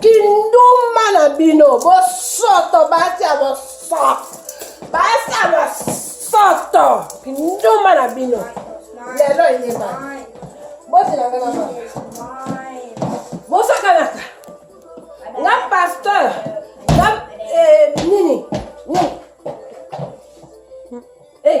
kindumba na bino bosoto basi ya bosoto basi ya bosoto kindumba na bino lelo eyeba botelanga na ba bosakanaka nga pasteur nga eh, nini nini eh.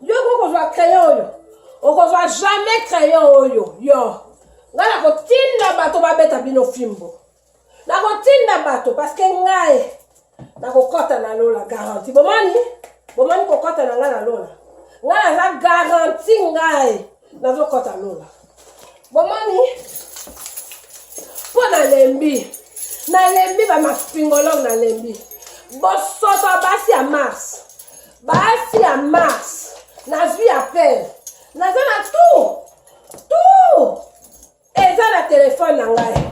Yo ko kozwa crayon oyo. Okozwa jamais crayon oyo. Yo. Nga na kotinda bato babeta bino fimbo. Na kotinda bato parce que ngai na kokota na lola garantie. Bomani? Bomani kokota na ngai na lola. Ngai naza garantie ngai nazokota lola. Bomani? Mpo nalembi. Nalembi ba mafingologue nalembi. Bosoto basi ya Mars. Basi ya Mars, nazwi appel. Naza na tout. Tout. Eza na telefone na ngai.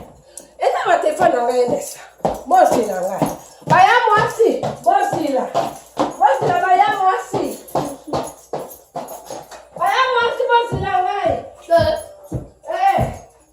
Eza na telefone na ngai nesa. Bosi na ngai. Baya mwasi, bosi na. Bosi na baya mwasi. Baya mwasi bosi na ngai. Eh.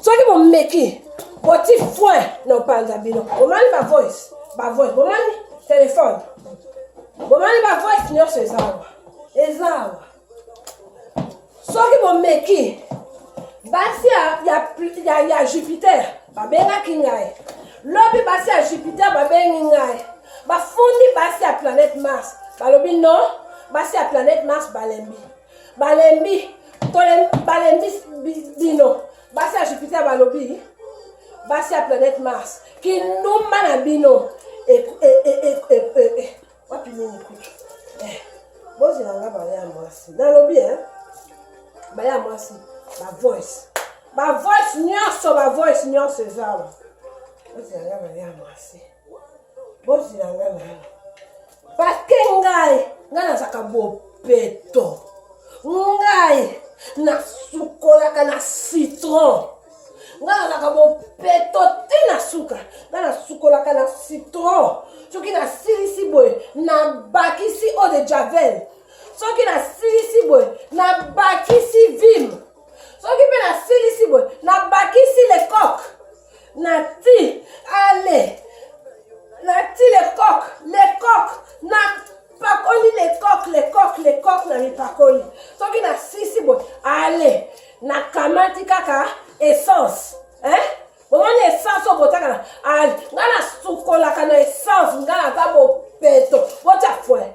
soki bomeki boti foin na opanza bino bomani ba voice ba voice bomani telefone bomani ba voice nyonso eza awa eza awa soki bomeki basi ya, ya, ya, ya jupiter babengaki ngai lobi basi ya jupiter babengi ngai bafundi basi ya planète mars balobi non basi ya planète mars balembi balembi balembi bino basi ya jupiter balobi basi ya planète mars kindumba na bino wapi nini kutu eh, bozela nga baya ya mwasi nalobi e baya ya mwasi bavoice bavoice nyonso bavoice nyonso ezawa bozela nga baya ya mwasi bozila nga na yo pake ngai ngai nazaka bopeto ngai nasukolaka na citron ngai nazaka bopeto te na suka ngai nasukolaka na citron soki nasilisi boye nabakisi eau de javel soki nasilisi boye nabakisi vime soki mpe nasilisi boye nabakisi lecoke Nati, allez. Nati le coq, le coq. Na pakoli le coq, le coq, le coq na mipakoli. Soki na sisi boy, allez. Na kamati kaka essence. Hein? omoni essence oyo botaka na ngai nasukolaka na essence ngai naza bopeto botya fwe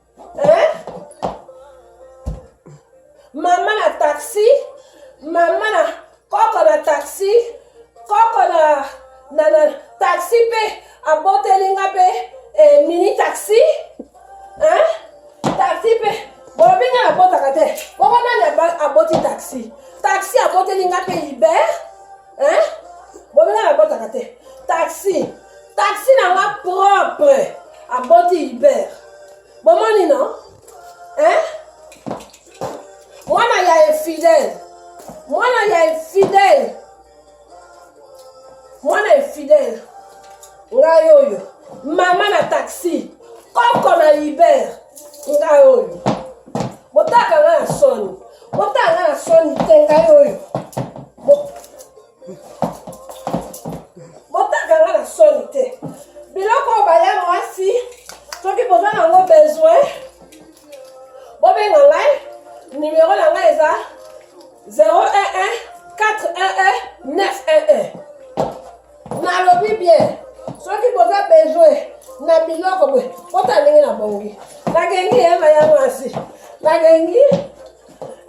eh? mama na taxi mama na koko na taxi koko na, na, na taxi mpe aboteli nga mpe eh, mini taxi eh? taxi mpe bolobi nga nabotaka te bongo nani aboti taxi taxi aboteli nga mpe libert Hein? Bobela na botaka te. Taxi. Taxi na nga propre. Aboti Hubert. Bomoni non? Hein? Mwana ya infidèle. Mwana ya infidèle. Mwana infidèle. Ngai oyo. Mama na taxi. Koko na Hubert. Ngai oyo. Botaka nga na soni. Botanga na soni te ngai oyo. Botanga nga na soni te. Biloko oyo baya mwasi soki boza nango besoin bobenga ngai numero na ngai eza 011 411 911 nalobi bien soki boza besoin na biloko boye kota ndenge na bongi nagengi yema ya mwasi nagengi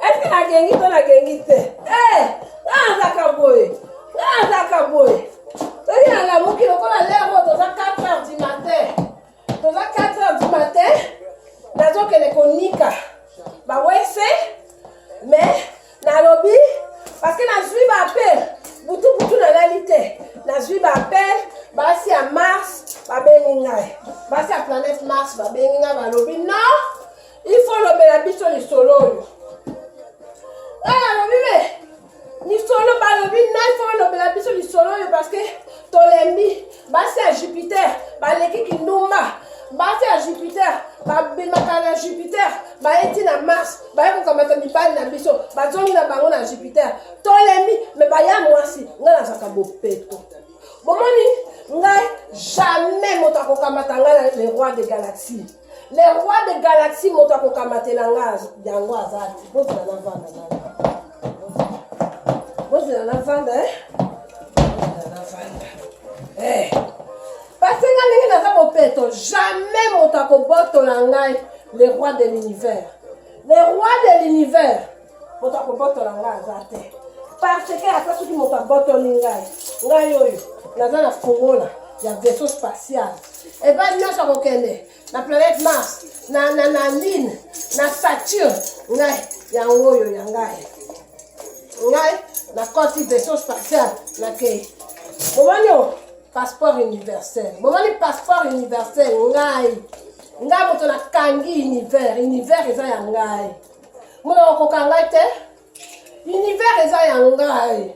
eske nagengi to nagengi te eh, naazaka boye naazaka boye soki nalamuki lokola lero toza 4 heure du matin toza 4 heures du matin nazokende konika bawese mais nalobi parce que nazwi baapel butubutu nalali te nazwi baapel basi ya mars babengi ngai basi ya planète mars babengi ngai balobi non il faut olobela biso lisolo oyo ngai nalobi me lisolo balobi ngai fo olobela biso lisolo oyo parceke tolembi basi ya jupiter baleki kindumba basi ya jupiter babimaka na jupiter baye ti na mars baye kokamata mibali na biso bazongi na bango na jupiter tolembi me baya mwasi ngai nazalaka bopeto bomoni ngai jamais moto akokamata ngai na le roi de galaxie le roi de galaxie moto akokamatela nga yango aza te bozela na vanda bozela na vanda eh? bozela na vanda eh. pasi nga ndenge naza bopeto jamais moto akobotola ngai le roi de l'univers le roi de l'univers moto akobotola ngai aza te parce que ata soki moto abotoli ngai ngai oyo naza na fongola ya vaisseau spatial eba nyonso akokende na planète mars na, na, na lune na saturne ngai yango oyo ya ngai ngai nakoti vaisseau spatial nakei bomoni o passeport universel bomoni passeport universel ngai ngai moto nakangi univers univers eza ya ngai mona okoka ngai te univers eza ya ngai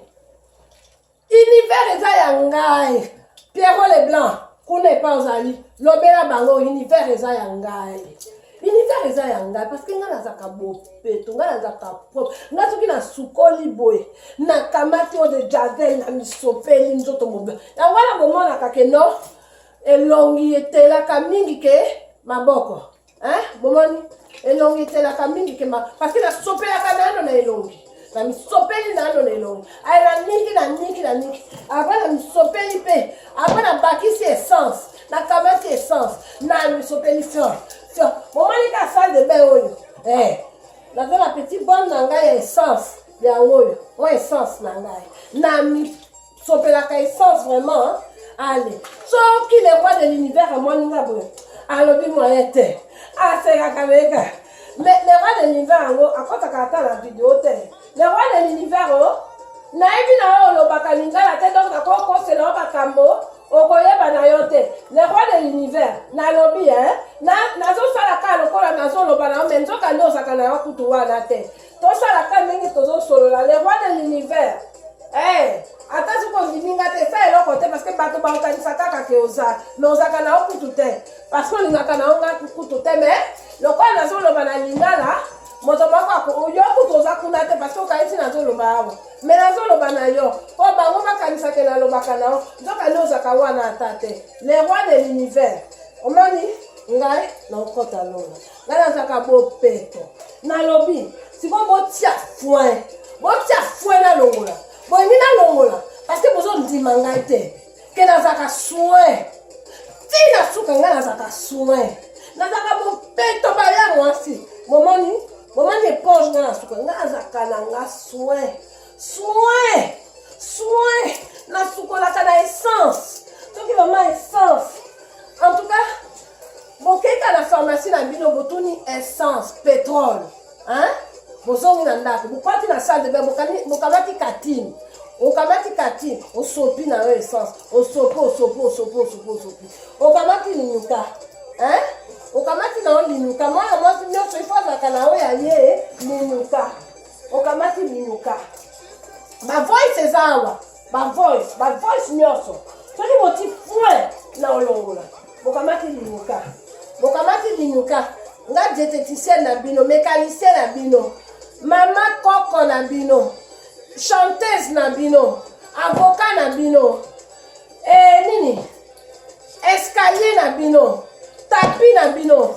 univers eza ya ngai pierro le blanc kuna epa ozali lobela bango univers eza ya ngai univers eza ya ngai parceke ngai nazalaka bopeto ngai nazalaka propre ngai soki nasukoli boye nakamati oyo de javel na misopeli nzoto mobe yango wana bomonaka ke no elongi etelaka mingi ke maboko hein bomoni elongi etelaka mingi kema parceke nasopelaka nano na elongi na misopeli nano na elongi aye na niki na niki na niki apa na misopeli mpe apa na bakisi essence na kamati essence na misopeli fior fior bomoni ka salle de bain oyo eh naza na petit bonne na ngai ya essence yango oyo oyo essence na ngai na sopelaka essence vraiment hein? ale soki le roi de l'univers amoni nga boye alobi moyen te asekaka meka mais le roi de l'univers yango akotaka ata na video te le roi de l'univers o oh, nayebi na yo olobaka lingala te donc nakokosela yo makambo okoyeba na yo te le roi de l'univers nalobi nazosala kaka lokola nazoloba na yo me nzoka nde ozaka na yo kutu wana te tosala ka ndenge tozosolola le roi de l'univers eh, ata soki ondimi nga te sa eloko te parce que bato baokanisa kaka ke oza me ozalaka na yo kutu te parce que olingaka na yo nga kutu te me lokola nazoloba na lingala moto moko yo kutu oza kuna te parce que okanisi nazoloba awa me nazoloba na yo mpo bango bakanisake nalobaka na yo nzoka nde ozalaka wana ata te le roi de l'univers omoni ngai na okota lola ngai nazalaka bopeto nalobi sikoyo botia foin botia foin nalongola bolingi nalongola parceke bozondima ngai te ke nazalaka soin ti na suka ngai nazalaka soin nazalaka bopeto baya mwasi momoni momoni eponge ngai na suka ngai azalaka na nga soin soin soin nasukolaka na essence soki mama essence en tout cas Bokeka na pharmacie na bino botuni essence, petrole. Hein? Bozongi na ndako, bokwati na salle de bain, bokamati katini. okamati kati osopi na yo essence osopi osopi osopi osopi osopi okamati linyuka hein? okamati na yo linyuka mwana mwasi nyonso ifo azalaka na yo ya ye linyuka okamati linyuka bavoice eza awa ba voice ba voice nyonso soki boti point na olongola bokamati linyuka bokamati linyuka nga dieteticienne na bino mécanicien na bino mama koko na bino chanteuse na bino avocat na bino e nini escalier na bino tapi na bino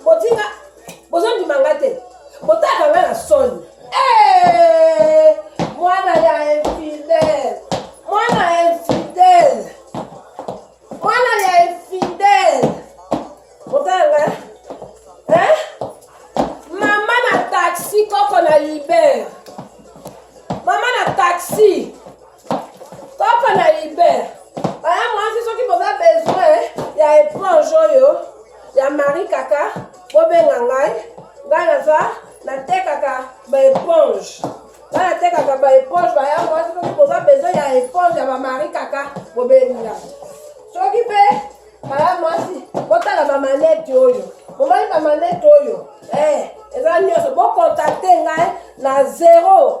Botika bozondima nga te. Botaka nga na soni. Eh! Mwana ya infidèle. Mwana ya infidèle. Mwana ya infidèle. Botaka nga. Hein? Mama na taxi koko na libère. Mama na taxi. Papa na Iber, baya mwasi soki boza besoin ya éponge oyo ya Marie Kaka, bobenga ngai, ngai naza natekaka ba éponge. Ngai natekaka ba éponge, baya mwasi soki boza besoin ya éponge ya ba Marie Kaka, bobenga. Soki pe baya mwasi, botala ba manette oyo. Bomoni ba manette oyo? Eh, eza nyonso bokontakte ngai na 0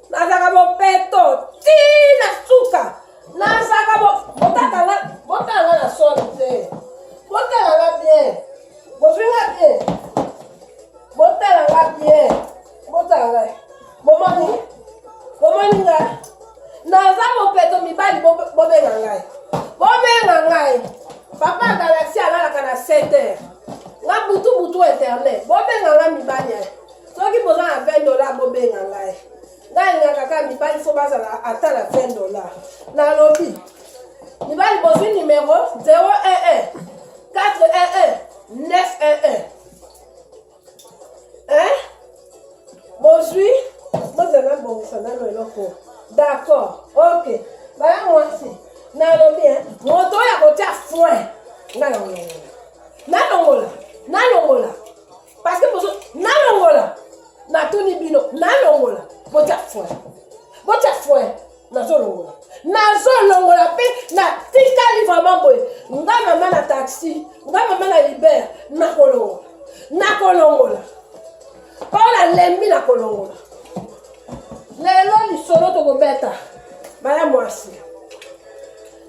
nazalaka bopeto ti na suka nazalaka botakanga botanga na soni te botalanga bien bofinga bien botalanga bien botalanga bomoni bomoni nga naza bopeto mibali bobenga ngai bobenga ngai papa galaxi alalaka na 7 heures nga butu butu internet bobenga nga mibali soki boza na 20 dola bobenga ngai ngai alingaka kaka mibali fo bazala ata na 20 dola nalobi mibali bozwi numero 011 411 911 hein bozwi bozala bongisa nano eloko d'accord ok baya mwasi nalobi hein moto oyo akotia foin ngai nalongola nalongola nalongola parce que bozo nalongola natuni bino nalongola botya foi botya foi nazolongola nazolongola mpe natikali vraiment boye nga mama na taxi nga mama na liber nakolongola nakolongola mpo nalembi nakolongola lelo lisolo tokobeta baya mwasi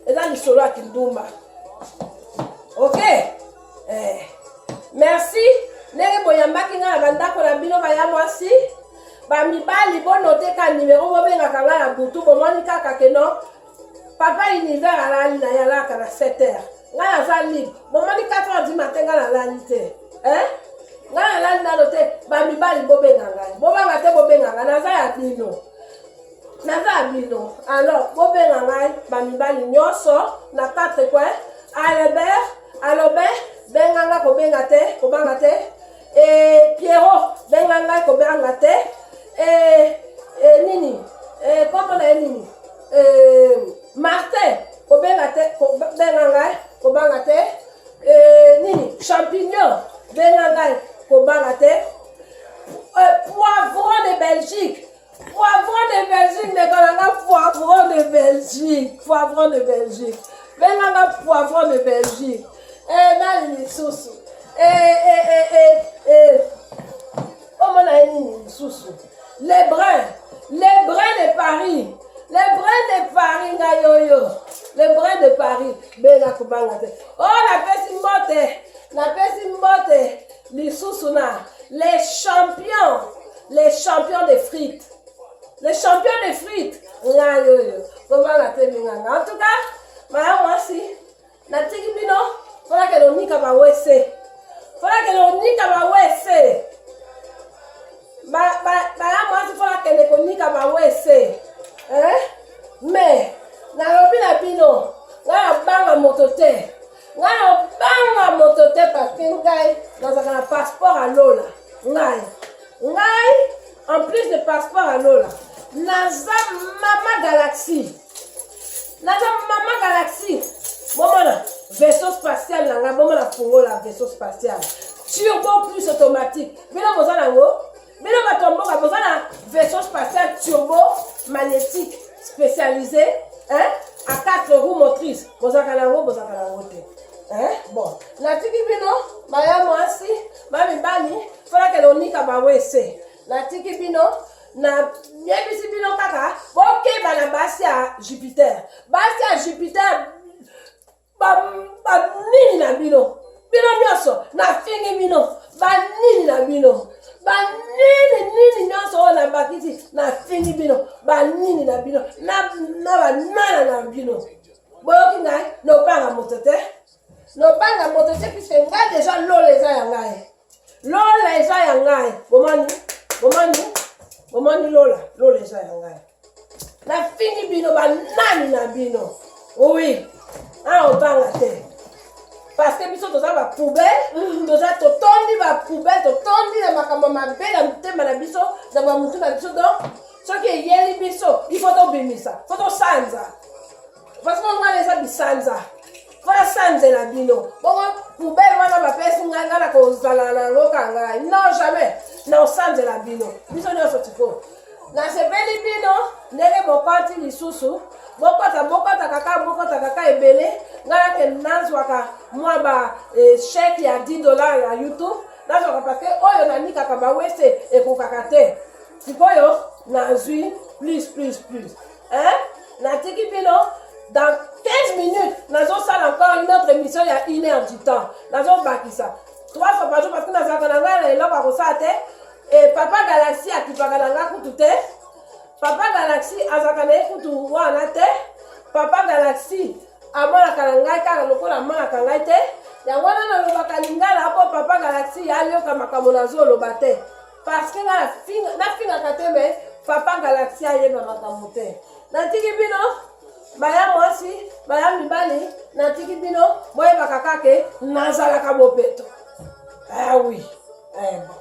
eza lisolo ya kindumba okay eh. merci ndenge boyambaki ngai na bandako na bino baya mwasi bamibali bonoteka nimero bobengaka ngai na butu bomoni kaka keno papa univers alali na ye alaka na 7 heures ngai naza libre bomoni 4 heures du matin ngai nalali te eh? ngai nalali nano te bamibali bobenga ngai bobanga te bobenga ngai naza ya bino naza bino alors bobenga ngai bamibali nyonso na quatre coin albert alobe benga ngai kobenga te kobanga te e, piero benga ngai kobanga te e, e, nini e, kombo na ye nini e, martin kobenga te kobenga ngai kobanga te e, nini champignon benga ngai kobanga te e, poivron de belgique Poivron de Belgique, ndeko na nga poivron de Belgique. Poivron de Belgique. Benga nga poivron de Belgique. Eh, nani lisusu? Eh, eh, eh, eh, eh. Omona ye nini lisusu? Les brins. Les brins de Paris. Les brins de Paris nga yoyo. Les brins de Paris. Benga kobanga te. Oh, napesi mbote. Napesi mbote. lisusu na les champions les champions de frite les champions de frite ngai oyo kobanga te minganga en tout cas maya mwasi natiki bino mpona kende onika bawese mpona kende onika bawese baya mwasi mpona kende konika bawese eh? mais nalobi na bino ngai abanga moto te Ngai obanga moto te paske ngai nazalaka na passeport ya lola ngai ngai en plus de passeport ya lola naza mama galaxie naza mama galaxie bomona vaisseau spatial na ngai bomona fungola vaisseau spatial turbo plus automatique bino boza na yango Bino bato ya mboka boza na vaisseau spatial turbo magnétique spécialisé hein? à quatre roues motrices bozalaka na yango bozalaka na yango te hein? bon natiki bino baya mwasi bamibali folakela onika bawese natiki bino nayebisi bino kaka bokeba na basi ya jupiter basi ya jupiter banini na bino bino nyonso nafingi bino banini na bino banini nini nyonso oyo nabakisi nafingi bino banini na bino na banana na bino boyoki ngai nobanga moto te nobanga moto te puiske ngai deja lola eza ya ngai lola eza ya ngai bomoni bomoni bomoni lola lola eza ya ngai nafingi bino banani na bino oui awa obanga te parce que biso toza bapoubele mm. toza totondi bapoubele totondi na makambo mabe na motema na biso na bamotu na biso donc soki eyeli biso ifo tobimisa fo tosanza Franchement wana eza bisanza. Wana sanze na bino. Bongo poubelle wana bapesi ngai ngai na kozala na yango ka ngai. Non jamais. Na osanze na bino. Biso nyonso tiko. Nasepeli bino ndenge bokoti lisusu. Bokota bokota kaka bokota kaka ebele. Ngai nake nazwaka mwa ba eh, chèque ya 10 dollars ya YouTube. Nazwaka parce que oyo nanikaka bawese ekokaka te. Sikoyo nazwi plus plus plus. hein natiki bino dans 15 minutes nazosala encore une autre émission ya une heure du temps nazobakisa trois fois par jour parce que nazalaka na ngai na eloko ya kosala te e papa galaxie akipaka na ngai kutu te papa galaxie azalaka na ye kutu wana te papa galaxie amonaka na ngai kaka lokola amonaka ngai te yango wana nalobaka lingala mpo papa galaxie ayoka makambo nazoloba te parce que nafingaka te me papa galaxi ayeba makambo te natiki bino baya mwasi baya mibali natiki bino boyebaka kake nazalaka bopeto awi ah, eh, bon.